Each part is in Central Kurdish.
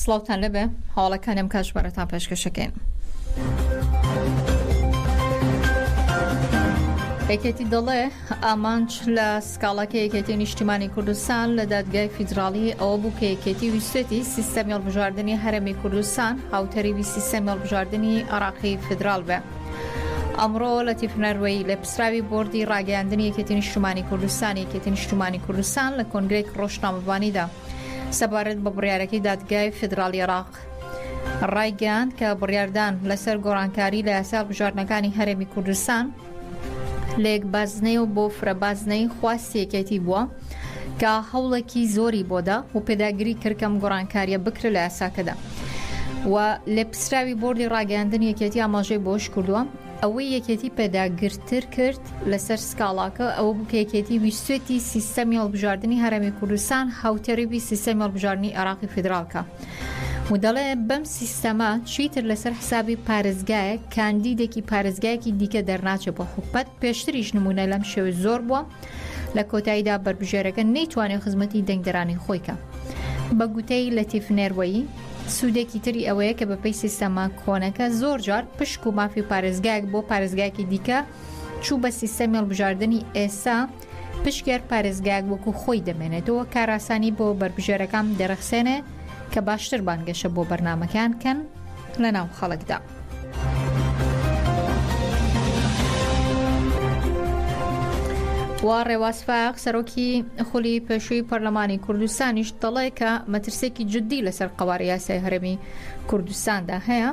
سڵاوتان لەبێ هەواڵەکانی ئەم کاتژمێرەتان پێشکەشەکەین. یەکێتی دەڵێ ئامانج لە سکاڵاکە یەکێتی نیشتیمانی کوردستان لە دادگای فیدراالی ئەوە بوو کە یەکێتی ویستێتی سیستەمی هەڵبژاردننی هەرمی کوردستان هاوتەریبی سیستەمی هەڵبژاردننی عراقی فیدرال بێ. ئەمڕۆ لە تیفنەروەی لە سراوی بۆردی ڕاگەیاندنی یەکێتی نیشتمانی کوردستانی یەکێتی نیشتمانی کوردستان لە کۆنگرێک ڕۆژنامەڤانیدا سەبارەت بە بڕیارەکەی دادگای فیدراڵی عراق ڕایگەیاند کە بڕاردان لەسەر گۆڕانکاری لە یاسا بژاردنەکانی هەرێمی کوردستان لەیەک بازنەی و بۆ فرە بازنەی خواستی یەکێتی بووە کە هەوڵێکی زۆری بۆدا و پێداگری کردکەم گۆڕانکاریە بکرە لە یاساکەدا. و لێپسراوی بردی ڕاگەاندن یەکێتی ئاماژەی بۆش کردووە ئەوەی یەکێتی پێداگرتر کرد لەسەر سکاڵاکە ئەوە بوو کە یەکێتی ویستێتی سیستەمی هەڵبژاردنی هەرێمی کوردستان هاوتێڕیی سیستەمی هەڵبژاردنی عێراقی فیدراڵ کا و دەڵێ بەم سیستەمە چیتر لەسەر حسابی پارێزگایە کاندیدێکی پارێزگایەکی دیکە دەرناچێ بۆ حکومەت پێشتریش نمونە لەم شێوە زۆر بووە لە کۆتاییدا بەربژێرەکە نەیتوانێت خزمەتی دەنگدەرانی خۆیکە بە گوتەی لەتیف نێروەیی سوودێکی تری ئەوەیە کە بەپێی سیستەمە کۆنەکە زۆرجار پشک و مافی پارێزگایەک بۆ پارێزگایەکی دیکە چوو بە سیستەمی هەڵبژاردننی ئێستا پشکێر پارێزگایەک وەکو خۆی دەمێنێتەوە کاراسانی بۆ بەربژێرەکان دەرەخسێنێ کە باشتر بانگەشە بۆ بەرنمەکان کەن لە ناو خەڵکدا. و ڕێواز فاق سەرۆکی خولی پێشووی پەرلەمانی کوردستانیش دەڵێ کە مەترسێکی جددی لەسەر قوارە یاسای هەرمی کوردستاندا هەیە.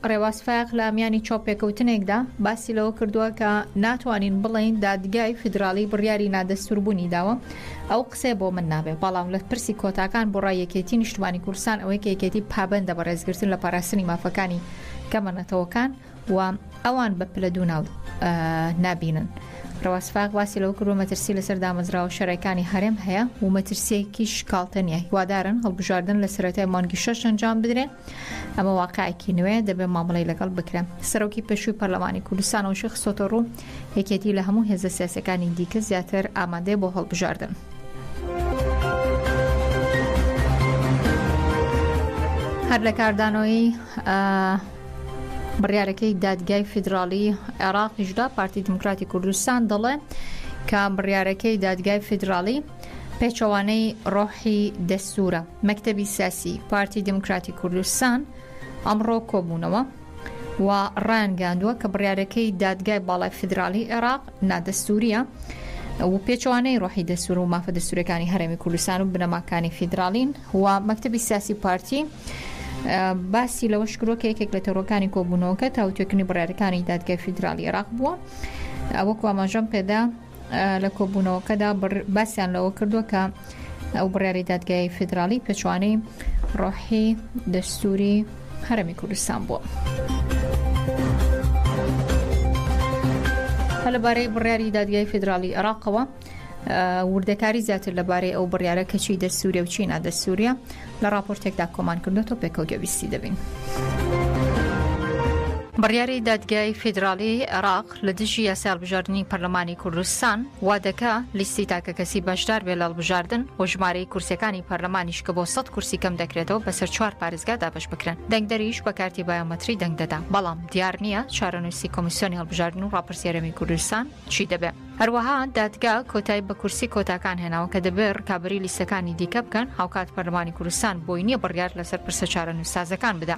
ڕێواز فاق لە میانی چاپێکەوتنێکدا باسی لەوە کردووە کە ناتوانین بڵین دادگای فیدراالی بڕیاری نادەستوربوونی داوە ئەو قسەی بۆ من نابێت، بەڵام لە پرسی کۆتاکان بۆ ڕای یەکێتی نیشتمانی کوردستان ئەوەی کە یەکێتی پابەندە بە ڕێزگرتن لە پاراستنی مافەکانی گەمە نەتەوەکان و ئەوان بە پلە دوو ناو نابینن. ڕەواسفاق باسی لەوە کردوە مەترسی لەسەر دامەزراوە شەرەکانی هەرێم هەیە و مەترسیەکی شکالتە نیە هیوادارن هەڵبژاردن لە سەرەتای مانگی شەش ئەنجام بدرێن ئەمە واقعێکی نوێ دەبێت مامەڵی لەگەڵ بکرێن سەرۆکی پێشووی پەرلەمانی کوردستانەوەشی خستۆتە ڕوو یەکێتی لە هەموو هێزە سیاسەکانی دیکە زیاتر ئامادەێ بۆ هەڵبژاردن. هەر لە کاردانەوەی بڕارەکەی دادگای فیدراالی عێراقیشدا پارتی دموکراتی کوردستان دەڵێ کە بڕارەکەی دادگای فیدراالی پێچەوانەی ڕۆحی دەستورە، مەکتەبی سیاسی پارتی دیموکراتی کوردستان ئەمڕۆ کۆبوونەوە و ڕایانگەیاندووە کە بڕیارەکەی دادگای باڵای فیدراڵی عێراق نادەستورییە و پێچەوانەی ڕۆحی دەستور و مافە دەستورەکانی هەرێمی کوردستان و بنەماکانی فیدراڵین و مەکتەبی سیاسی پارتی باسی لەوەش کرۆ کە یەکێک لە تەڕۆکانی کۆبوونەوەکە تاوتێکنی بڕارەکانی دادگای فیدراالی عراق بووە وەکو ئاماژەم پێدا لە کۆبوونەوەکەدا باسیان لەوە کردووە کە ئەو بڕیاری دادگای فیدراڵی پێچوانەی ڕۆحی دەستوری هەرمی کوردستان بووە. لەبارەی بڕیاری دادگای فیدراڵی عراقەوە وردەکاری زیاتر لەبارەی ئەو بڕیارە کەچی دەسوورە و چینا دەسووریە لە راپۆرتێکدا کۆمان کردوەوە پێکەوتەویستی دەبین. بڕیاری دادگای فیدراڵی عراق لە دژی یاسای هەڵبژاردنی پەرلەمانی کوردستان وا دەکا لیستی تاکەکەسی بەشدار بێ لە هەڵبژاردن و ژمارەی کورسیەکانی پەرلەمانیش کە بۆ سەد کورسی کەم دەکرێتەوە بەسەر چوار پارێزگا دابەش بکرێن دەنگدەریش بە کارتی بایۆمەتری دەنگ دەدا بەڵام دیار نییە چارەنووسی کۆمیسیۆنی هەڵبژاردن و ڕاپرسی هەرێمی کوردستان چی دەبێ. هەروەها دادگا کۆتای بە کورسی کۆتاکان هێناوە کە دەبێ ڕکابەری لیستەکانی دیکە بکەن هاوکات پەرلەمانی کوردستان بۆی نییە بڕیار لەسەر پرسە چارەنووس سازەکان بدا.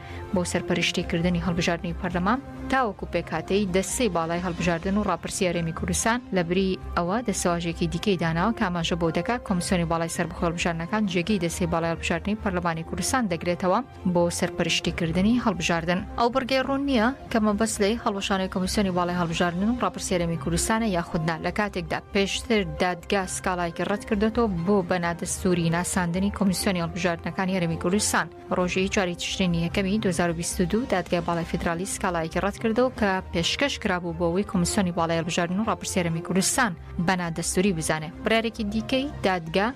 بۆ سەرپەرشتی کردنی هەڵبژاردنی پەرلەمان تاوەکو پێکاتەی دەستەی باڵای هەڵبژاردن و ڕاپرسی هەرێمی کوردستان لە بری ئەوە دەسەواژێکی دیکەی داناوە کاماژە بۆ دەکات کۆمسیۆنی باڵای سەر بخۆڵبژارنەکان جێگەی دەستی باڵای هەڵبژاردننی پەرلەمانی کوردستان دەگرێتەوە بۆ سەرپەرشتیکردنی هەڵبژاردن ئەو بڕگەی ڕوون نییە کە مەبەست لەی هەڵوەشانەی کۆمسیۆنی باڵای هەڵبژاردن و ڕاپرسی هەرێمی کوردستانە یاخودنا لە کاتێکدا پێشتر دادگا سکاڵایکی ڕەت کردێتەوە بۆ بەنادەستوری ناساندنی کۆمسیۆنی هەڵبژاردنەکانی هەرێمی کوردستان ڕۆژی چواری تشرینی یەکەمی 2022 دادگای باڵای فیدرالی سکاڵایەکی ڕەتکردەوە کە پێشکەش کرابوو بۆ ئەوەی کۆمسیۆنی باڵای هەڵبژاردن و ڕاپرسێرەمی کوردستان بە نادەستوری بزانێ برارێکی دیکەی دادگا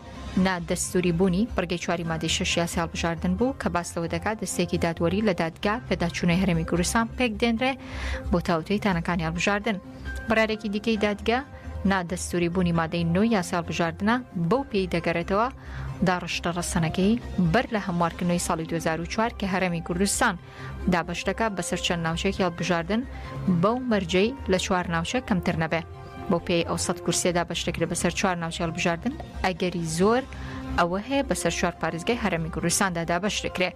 نادەستوری بوونی بڕگەی چواری مادەی شەش یاسی هەڵبژاردن بوو کە باس لەوە دەکات دەستێکی دادوەری لە دادگا پێداچوونەی هەرێمی کوردستان پێک دێنرێ بۆ تاوتوێی تانەکانی هەڵبژاردن قەرارێکی دیکەی دادگە، نا دەستووری بوونی مادەی نۆی یاسای هەڵبژاردنە، بەو پێی دەگەرێتەوە داڕشتە ڕەسەنەکەی بەر لە هەموارکردنەوەی ساڵی 2004 کە هەرێمی کوردستان دابەش دەکات بەسەر چەند ناوچەیەکی هەڵبژاردن بەو مەرجەی لە چوار ناوچە کەمتر نەبێ. بۆ پێی ئەو سەد کورسێدا بەشتەکرێت بەسەر چوار ناوچە هەڵبژاردن ئەگەری زۆر ئەوە هەیە بەسەر چوار پارێزگای هەرێمی کوردستاندا دابەش دەکرێت.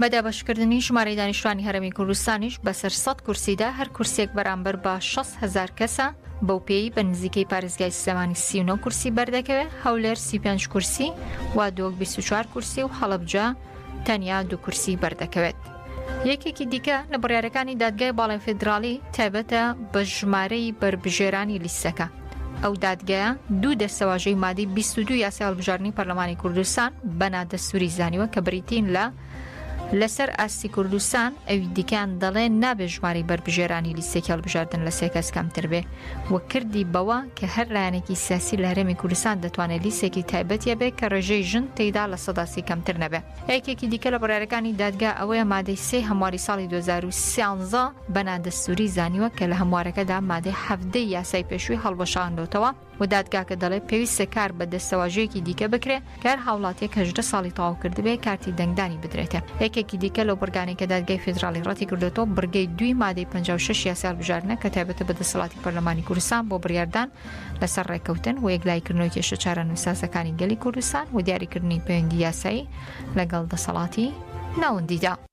بە دابەشکردنی ژمارەی دانیشتوانی هەرێمی کوردستانیش بەسەر سەد کورسیدا هەر کورسیەک بەرامبەر بە شەست هەزار کەسە، بەو پێیی بە نزیکەی پارێزگای سلێمانی سی و نۆ کورسی بەردەکەوێ، هەولێر سی و پێنج کورسی و دۆک بیست و چوار کورسی و هەڵەبجە تەنیا دوو کورسی بەردەکەوێت. یەکێکی دیکە لە بڕیارەکانی دادگای باڵای فیدراڵی تایبەتە بە ژمارەی بەربژێرانی لیستەکە، ئەو دادگایە دوو دەستەواژەی مادەی 22 یاسای هەڵبژاردنی پەرلەمانی کوردستان بە نادەستوری زانیوە کە بریتین لە لەسەر ئاستی کوردستان ئەوی دیکان دەڵێ نابێ ژماری بەربژێرانی لیستێکی هەڵبژاردن لە سێکەس کەمتر بێ و کردی بەوە کە هەر لایەنێکی سیاسی لە هەرێمی کوردستان دەتوانێت لیستێکی تایبەتە بێ کە ڕێژەی ژن تێدا لە سەداسی کەمتر نەبێ یەکێکی دیکە لە بڕارەکانی دادگا ئەوەیە مادەی سێ هەمواری ساڵی 2013 بە نادەستووری زانیوە کە لە هەموارەکەدا مادەی حەفدەی یاسای پێشووی هەڵوەشاندۆتەوە و دادگاکە دەڵێ پێویستە کار بە دەستەواژەیەکی دیکە بکرێ کار هاوڵاتیەک هەژدە ساڵی تەواو کردبێ کارتی دەنگدانی بدرێتێ یەکێکی دیکە لەو بڕگانەی کە دادگای فیدراڵی ڕەتی کردوێتەوە بڕگەی دوی مادەی 56 یاسال بژارنە کە تایبەتە بە دەسەڵاتی پەرلەمانی کوردستان بۆ بڕاردان لەسەر ڕێککەوتن و یەکلایکردنەوە کێشە چارە نووسازەکانی گەلی کوردستان و دیاریکردنی پەیوەندی یاسایی لەگەڵ دەسەڵاتی ناوەندیدا.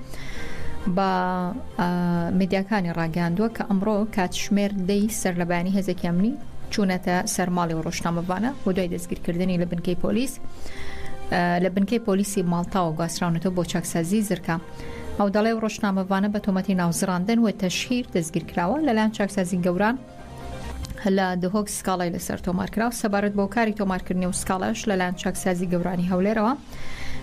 بە میدیاکانی ڕاگەیاندووە کە ئەمڕۆ کاتژمێر دەی سەر لە بەیانی هێزێکی ئەمنی چوونەتە سەرماڵی و ڕۆژنامەڤانە و دوای دەستگیرکردنی لە بنکەی پۆلیس لە بنکەی پۆلیسی ماڵتاوە گواستراونەتەوە بۆ چاکسازی زرکە ئەو دەڵێ و ڕۆژنامەڤانە بە تۆمەتی ناوزڕاندن و تەشهیر دەستگیرکراوە لەلایەن چاکسازی گەوران و لە دهۆک سکاڵای لەسەر تۆمارکرا و سەبارەت بە هۆکاری تۆمارکردنی و سکاڵایش لەلایەن چاکسازی گەورانی هەولێرەوە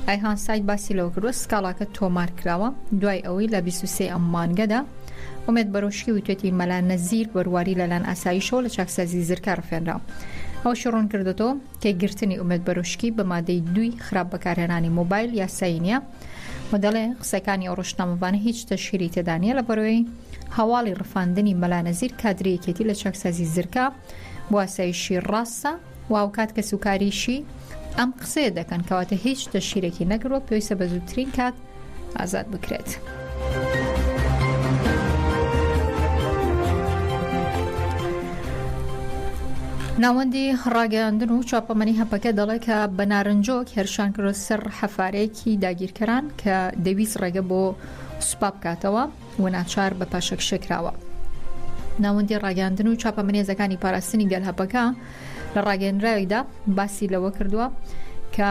ئایهان ساید باسی لەوە کردوە سکاڵاکە تۆمار کراوە دوای ئەوەی لە 23 ئەم مانگەدا ئومێد بەرۆشکی وتێتی مەلا نەزیر بەرواری لەلایەن ئاسایشەوە لە چاکسازی زرکە ڕفێنرا ئەوشی ڕوون کردێتەوە کە گرتنی ئومێد بەرۆشکی بە مادەی دوی خراپ بەکارهێنانی مۆبایل یاسایی نیە و دەڵێ قسەکانی ئەو ڕشتنامەوانە هیچ تەشهیری تێدانە لە بەرەوەی هەواڵی ڕفاندنی مەلا نەزیر کادری یەکێتی لە چاکسازی زرکە بۆ ئاسایشی ڕاستە و هاوکات کەسوکاریشی ئەم قسەیە دەکەن کەواتە هیچ تەشیرێکی نەگروە پێویستە بە زووترین کات ئازاد بکرێت. ناوەندی ڕاگەیاندن و چاپەمەنی هەپەکە دەڵێ کە بە نارنجۆک هێرشان کرۆ سەر حەفارەیەکی داگیرکەران کە دەویست ڕێگە بۆ سوپا بکاتەوە و ناچار بە پاشەکشێکراوە. ناوەندی ڕاگەیاندن و چاپە منێزەکانی پاراستنی گەل هەپەکە لە ڕاگەیەنراویدا باسی لەوە کردووە کە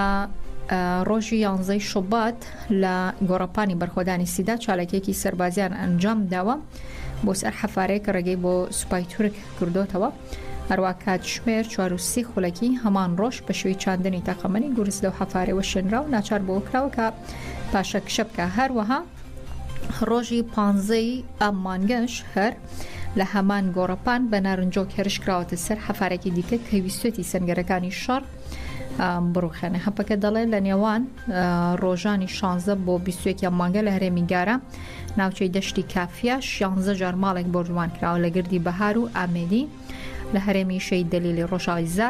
ڕۆژی یانزەی شوبات لە گۆڕەپانی بەرخۆدانی سیدا چالاکێکی سەربازیان ئەنجام داوە بۆ سەر حەفارێک ڕێگەی بۆ سوپای تورک کردوتەوە هەروە کاتژمێر 430 خولەکی هەمان ڕۆژ بە شوی چاندنی تەقەمەنی گورز لەو حەفارەوە شوێنرا و ناچار بۆ کراوە کە پاشە کشە بکە هەروەها ڕۆژی پانزە ی ئەم مانگەش هەر لە هەمان گۆڕەپان بە نارنجۆک هێرش کراوەتە سەر حەفارێکی دیکە کە ویستێتی سەنگەرەکانی شەڕ بڕوخێنە هەپەکە دەڵێت لە نێوان ڕۆژانی 16 بۆ 21 مانگە لە هەرێمی گارە ناوچەی دەشتی کافە 16 جار ماڵێک بۆردومان کراوە لە گردی بەهار و ئامێدی لە هەرێمی شەی دەلیلی ڕۆژاوی زە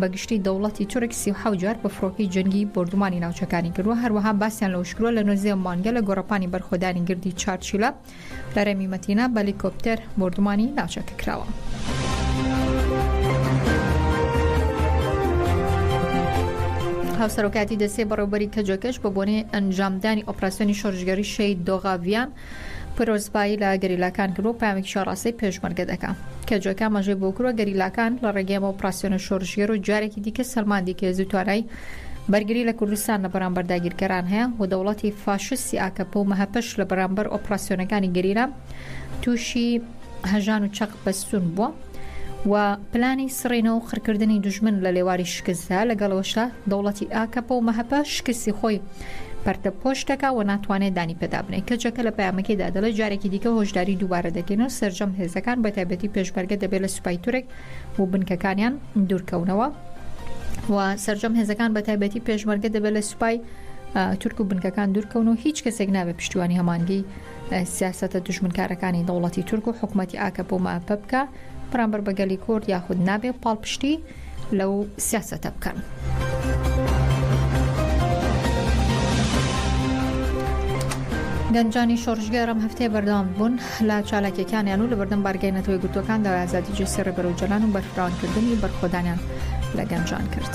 بە گشتی دەوڵەتی تورک سی و حەوت جار بە فڕۆکەی جەنگی بۆردومانی ناوچەکانی کردووە هەروەها باسیان لەوەش کردووە لە نۆزدە مانگە لە گۆڕەپانی بەرخۆدانی گردی چارچیلە لە رێمی مەتینا بە لیکۆپتەر بۆردومانی ناوچەکە کراوە. هاوسەرۆکاتی دەسێ بەڕێوبەری کەجەکەش بە بۆنەی ئەنجامدانی ئۆپراسسیۆنی شۆرشگەری شەید دۆغاڤیان پیرۆزبایی لە گەریلاکان کرد و پامێکی شاڕاستەی پێشمەرگە دەکا کە جۆکە ئاماژەی بۆ کروە گەریلاکان لە ڕێگەی ئەمە ئۆپراسیۆنە شۆرشگێر و جارێکی دیکە سەلماندی کە هێزو توانای بەرگری لە کوردستان لە بەرامبەر داگیرکەران هەیە و دەوڵەتی فاشستی ئاکەپە و مەهەپەش لە بەرامبەر ئۆپراسیۆنەکانی گەریلا تووشی هەژان و چەق بەستوون بووە و پلانی سڕینەوە و قڕکردنی دوژمن لە لێواری شکستدا لەگەڵەوەشە دەوڵەتی ئاکەپە و مەهەپە شکستی خۆی پەرتە پۆش دەکا و ناتوانێت دانی پێدا بنێ کەچەکە لە پامەکەیدا دەڵێ جارێکی دیکە هۆشداری دووبارە دەکەین و سرجەم هێزەکان بە تایبەتی پێشمەرگە دەبێت لە سوپای تورک و بنکەکانیان دوورکەونەوە و سرجەم هێزەکان بە تایبەتی پێشمەرگە دەبێت لە سوپای تورک و بنکەکان دوورکەون و هیچ کەسێک نابێت پشتیوانی هەمانگی سیاسەتە دوژمنکارەکانی دەوڵەتی تورک و حکوومەتی ئاکەپ و ماپە بکە بەرامبەر بە گەلی کورد یاخود نابێ پاڵپشتی لەو سیاسەتە بکەن. گەنجانی شۆڕژگەرم هەفتەیە بەردەوام بوون لە چالاکیەکانیان و لە بەردەم بارگەی نەتەوەی گوتوەکان داوای ئازادی جسیڕی بەرەوجلان و بەرفراوانکردنی بەرخۆدانیان لە گەنجان کرد.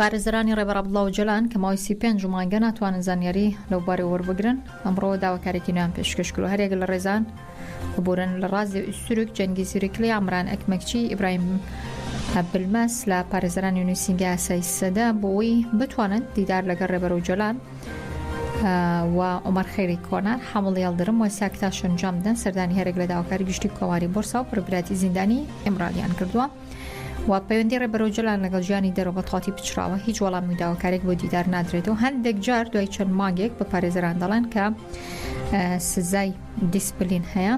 پارێزەرانی ڕێبەر عەبدوڵا ئۆجالان کە ماوەی سی و پێنج مانگە ناتوانن زانیاری لەو بارەوە وەربگرن ئەمڕۆ داواکاریی نوێیان پێشکەش کرد و هەر یەک لە ڕێزان ببورن لە ڕازێ ئوستورک جەنگیز یوریکلی عەمران ئەکمەکچی ئیبراهیم بلمەس لە پارێزەرانی نووسینگەی ئاسای سەدە بۆ ئەوەی بتوانن دیدار لەگەڵ ڕێبەر ئۆجالان و عومەر خێری کۆنە، حامڵ یەڵدرم و ساکتا شەنجامدن سەردانی هەرێک لە داواکاری گشتی کۆماری بۆرسا و پربراتی زیندانی ئیمرالیان کردووە و پەیوەندی ڕێبەر ئۆجەلان لەگەڵ ژیانی دەرەوە بە تەواتی پچڕاوە هیچ وەڵامی و داواکارێک بۆ دیدار نادرێت و هەندێک جار دوای چەند مانگێک بە پارێزەران دەڵێن کە سزای دیسپلین هەیە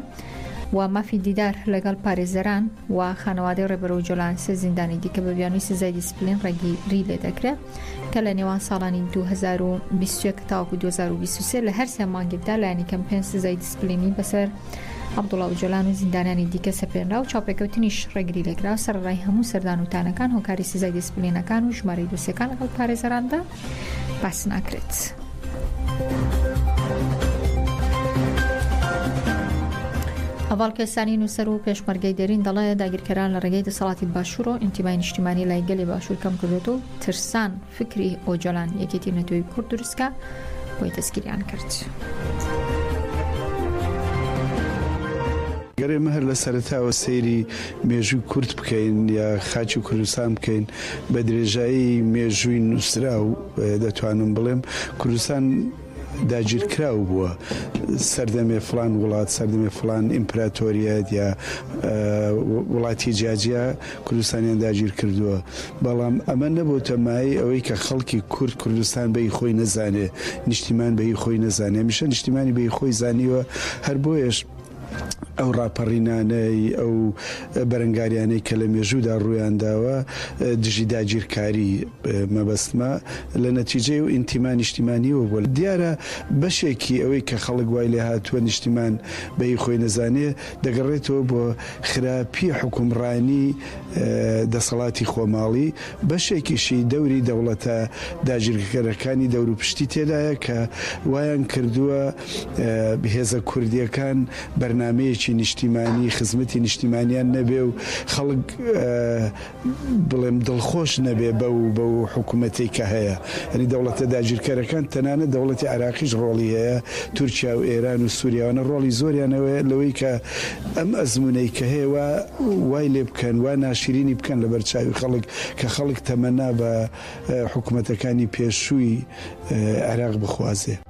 و مافی دیدار لەگەڵ پارێزەران و خانەوادەی ڕێبەر ئۆجۆلان سێ زیندانی دیکە بە بیانووی سزای دیسپلین ڕێگیری لێ دەکرێت کە لە نێوان ساڵانی 2021 تاوەکو 2023 لە هەر سێ مانگێکدا لایەنی کەم پێنج سزای دیسپلینی بەسەر عبدوڵا و جۆلان و زیندانانی دیکە سەپێنرا و چاوپێکەوتنیش ڕێگری لێکرا سەرڕای هەموو سەردان و تانەکان هۆکاری سزای دیسپلینەکان و ژمارەی دۆسیەکان لەگەڵ پارێزەراندا باس ناکرێت. هەواڵ کەسانی نووسەر و پێشمەرگەی دەرین دەڵێ داگیرکەران لە ڕێگەی دەسەڵاتی باشوور و ئینتیمای نیشتیمانی لای گەلی باشوور کەم کردێت و ترسان فکری ئۆجۆلان یەکێتی نەتۆی کورد دروستکە بۆی دەستگیریان کرد. گەر ئێمە هەر لە سەرەتاوە سەیری مێژووی کورد بکەین یا خاکی کوردستان بکەین بە درێژایی مێژووی نووسراو دەتوانم بڵێم کوردستان داگیرکراو بووە سەردەمێ فلان وڵات سەردەمێ فلان ئیمپراتۆریەت یا وڵاتی جیاجیا کوردستانیان داگیر کردووە بەڵام ئەمە نەبووتە مای ئەوەی کە خەڵکی کورد کوردستان بەی خۆی نەزانێ نیشتیمان بەی خۆی نەزانێ میشە نیشتیمانی بەی خۆی زانیوە هەر بۆیش ئەو ڕاپەڕینانەی، ئەو بەرەنگاریانەی کە لە مێژوودا ڕوویان داوە دژی داگیرکاری، مەبەستمە لە نەتیجەی و ئینتیما نیشتیمانییەوە بووە. دیارە بەشێکی ئەوەی کە خەڵک وای لێ هاتووە نیشتیمان بە هی خۆی نەزانێ، دەگەڕێتەوە بۆ خراپی حوکمڕانی دەسەڵاتی خۆماڵی، بەشێکیشی دەوری دەوڵەتە داگیرکەرەکانی دەوروپشتی تێدایە کە وایان کردووە، هێزە کوردییەکان بەرنامەیەکی نیشتیمانی خزمەتی نیشتیمانیان نەبێ و خەڵک بڵێم دڵخۆش نەبێ بە و بە و حکوومەتی کە هەیە ئەنی دەوڵەتە داگیرکەرەکان تەنانە دەوڵەتی عراقیش ڕۆڵی هەیە تورکیا و ئێران و سووریاوانە ڕۆڵی زۆریانەوەی لەوەی کە ئەم ئەزمونەی کە هەیە وای لێ بکەن و ناشرینی بکەن لە بەرچوی خەڵک کە خەڵک تەمەنا بە حکوومەتەکانی پێشووی عێراق بخوازێ.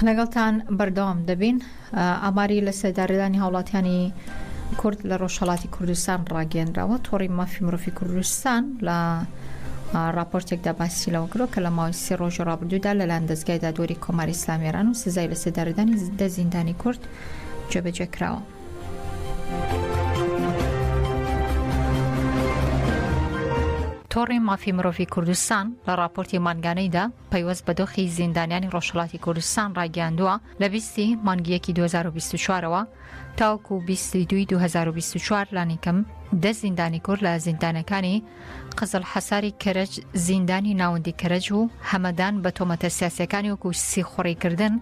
لەگەڵتان بەردەوام دەبین ئاماری لە سێدارەدانی هاوڵاتیانی کورد لە ڕۆژهڵاتی کوردستان ڕاگەێنراوە تۆڕی مافی مرۆڤی کوردستان لە راپۆرتێکدا باسی لەوە کرۆ کە لە ماوەی سێ ڕۆژی ڕابردوودا لەلاەن دەستگای دادوەری کۆماری ئسلامیێران و سزای لە سێدارەدانی دە زیندانی کورد جێبەجێ کراوە. تۆڕی مافی مرۆڤی کوردستان لە راپۆرتی مانگانەیدا پەیوەست بە دۆخی زیندانیانی ڕۆژهڵاتی کوردستان ڕاگەاندووە لە بیستی مانگیەکی 2024ەوە تاوکو و 2024 لانیکەم دە زیندانی کورد لە زیندانەکانی قزل حەساری کەرەج زیندانی ناوەندی کەرەج و هەمەدان بە تۆمەتە سیاسەکانی وەکو سیخوڕیکردن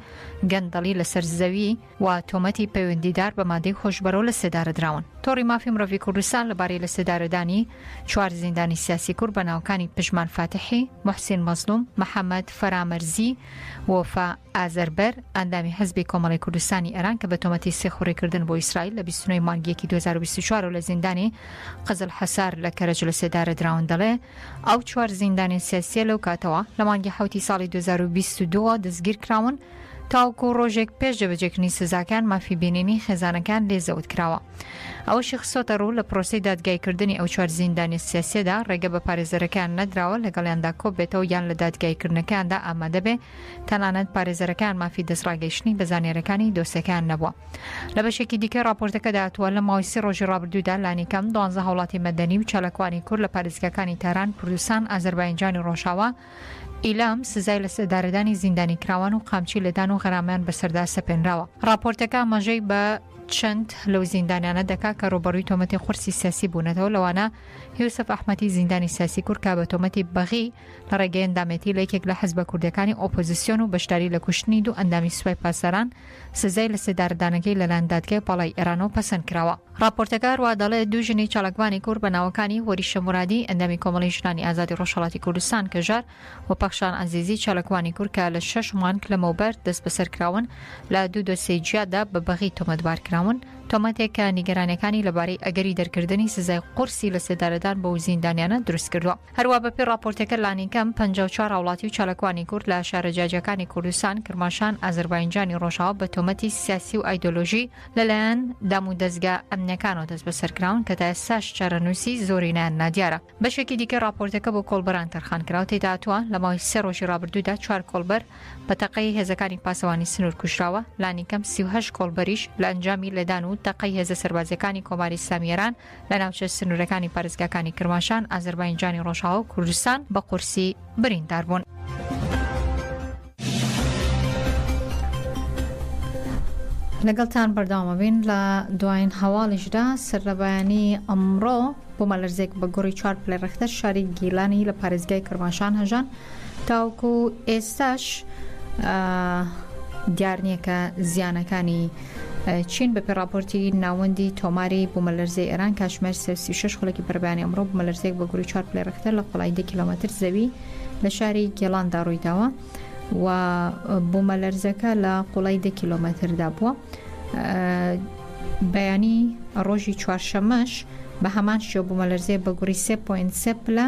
گەندەڵی لەسەر زەوی و تۆمەتی پەیوەندیدار بە مادەی هۆشبەرەوە لەسێدارەدراون. تۆڕی مافی مرۆڤی کوردستان لەبارەی لەسێدارەدانی چوار زیندانی سیاسی کورد بە ناوەکانی پژمان فاتحی، موحسین مەزڵوم، محەمەد فەرامەرزی و وەفا ئازەربەر، ئەندامی حزبی کۆمەڵی کوردستانی ئێران کە بە تۆمەتی سیخوڕیکردن بۆ ئیسرائیل لە بیست و نۆ ی مانگی یەکی دوو هەزار و بیست و چوار و لە زیندانی قزل حەسار لە کەرەج لەسێدارەدراون دەڵێ، ئەو چوار زیندانی سیاسییە لەو کاتەوە، لە مانگی حەوتی ساڵی دوو هەزار و بیست و دوو ەوە دەستگیرکراون. تاوەکو ڕۆژێک پێش جێبەجێکردنی سزاکان مافی بینینی خێزانەکان لێ زەوت کراوە. ئەوەشی خستۆتەڕوو، لە پرۆسەی دادگایکردنی ئەو چوار زیندانیە سیاسیەدا ڕێگە بە پارێزەرەکەیان نەدراوە لەگەڵیاندا کۆببێتەوە یان لە دادگایکردنەکەیاندا ئامادە بێ، تەنانەت پارێزەرەکەیان مافی دەستڕاگەیشتنی بە زانیاریەکانی دۆسیەکەیان نەبووە. لە بەشێکی دیکەی ڕاپۆرتەکەدا هاتووە، لە ماوەی سی ڕۆژی ڕابردوودا لانیکەم دوانزە هاوڵاتی مەدەنی و چالاکوانی کورد لە پارێزگاکانی تاران، کوردستان، ئازەرباینجانی ڕۆژاوا، ئیلام سزای لەسێدارەدانی زیندانیکراوان و قامچی لێدان و غەرامەیان بەسەردا سەپێنراوە. ڕاپۆرتەکە ئاماژەی بە چەند لەو زیندانیانە دەکات کە ڕووبەڕووی تۆمەتی قورسی سیاسی بوونەتەوە، لەوانە یوسف ئەحمەدی زیندانی سیاسی کورد کە بە تۆمەتی بەغی لە ڕێگەی ئەندامێتی لە یەکێک لە حزبە کوردییەکانی ئۆپۆزیسیۆن و بەشداری لە کوشتنی دوو ئەندامی سوپای پاسداران سزای لەسێدارەدانەکەی لەلایەن دادگای باڵای ئێرانەوە پەسەند کراوە. ڕاپۆرتەکە ڕوا دەڵێت، دوو ژنی چالاکڤانی کورد بە ناوەکانی، هۆریشە مورادی، ئەندامی کۆمەڵەی ژنانی ئازادی ڕۆژهەڵاتی کوردستان، کەژار، و پەخشان عەزیزی، چالاکوانی کورد کە لە شەش مانگ لەمەوبەر دەستبەسەر کراون، لە دوو دۆسیەی جیادا بە بەغی تۆمەتبار کراون، تۆمەتێک کە نیگەرانییەکانی لەبارەی ئەگەری دەرکردنی سزای قورسی لەسێدارەدان بەو زیندانیانە دروست کردووە. هەروا بەپێی ڕاپۆرتەکە لانیکەم پەنجا و چوار هاوڵاتی و چالاکوانی کورد لە شارە جیاجیاکانی کوردستان، کرماشان، ئازەرباینجانی ڕۆژاوا بە تۆمەتی سیاسی و ئایدۆلۆژی، لەلایەن دام و دەزگا ئەمنیەکانەوە دەستبەسەرکراون کە تا ئێستاش چارەنووسی زۆرینەیان نادیارە بەشێکی دیکە راپۆرتەکە بۆ کۆڵبەران تەرخانکراو تێدا هاتووە لە ماوەی سێ رۆژی رابردوودا چوار کۆڵبەر بە تەقەی هێزەکانی پاسەوانی سنوور کوژراوە لانیکەم سی و هەشت کۆڵبەریش لە ئەنجامی لێدان و تەقەی هێزە سەربازییەکانی کۆماری ئیسلامی ئێران لە ناوچە سنوورەکانی پارێزگاکانی کرماشان، ئازەرباینجانی ڕۆژاوا و کوردستان بە قورسی بریندار بوون. لەگەڵتان بەرداوامەبین لە دوایین هەواڵیشدا سەرلەبایانی ئەمڕۆ بوومەلەرزێک بە گوڕی چوار پلە ڕێختەر شاری گیلانی لە پارێزگای کرماشان هەژان تاوکو ئێستاش دیار نییە کە زیانەکانی چین، بەپێ ڕاپۆرتی ناوەندی تۆماری بوومەلەرزەی ئێران، کاتژمێر سێ و سی و شەش خولەکی بەرەبەیانی ئەمڕۆ بوومەلەرزەیەک بە گروی چوار پلەی ڕێکتەر لە قوڵایی دە کیلۆمەتر زەوی لە شاری گێڵاندا ڕوویداوە و بوومەلەرزەکە لە قوڵای دە کیلۆمەتردا بووە. بەیانی ڕۆژی چوارشەمەش بە هەمان شێوە بوومەلەرزەیە بە گوڕی 3.3 پلە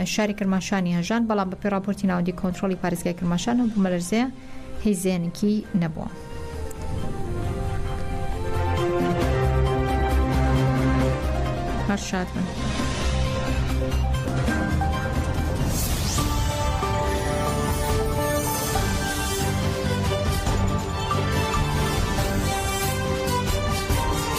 شاری کرماشانی هەژاند، بەڵام بەپێی ڕاپۆرتی ناوەندی کۆنترۆڵی پارێزگای کرماشان ئەو بوومەلەرزەیە هیچ زیانێکی نەبووە. هەر شاد بن.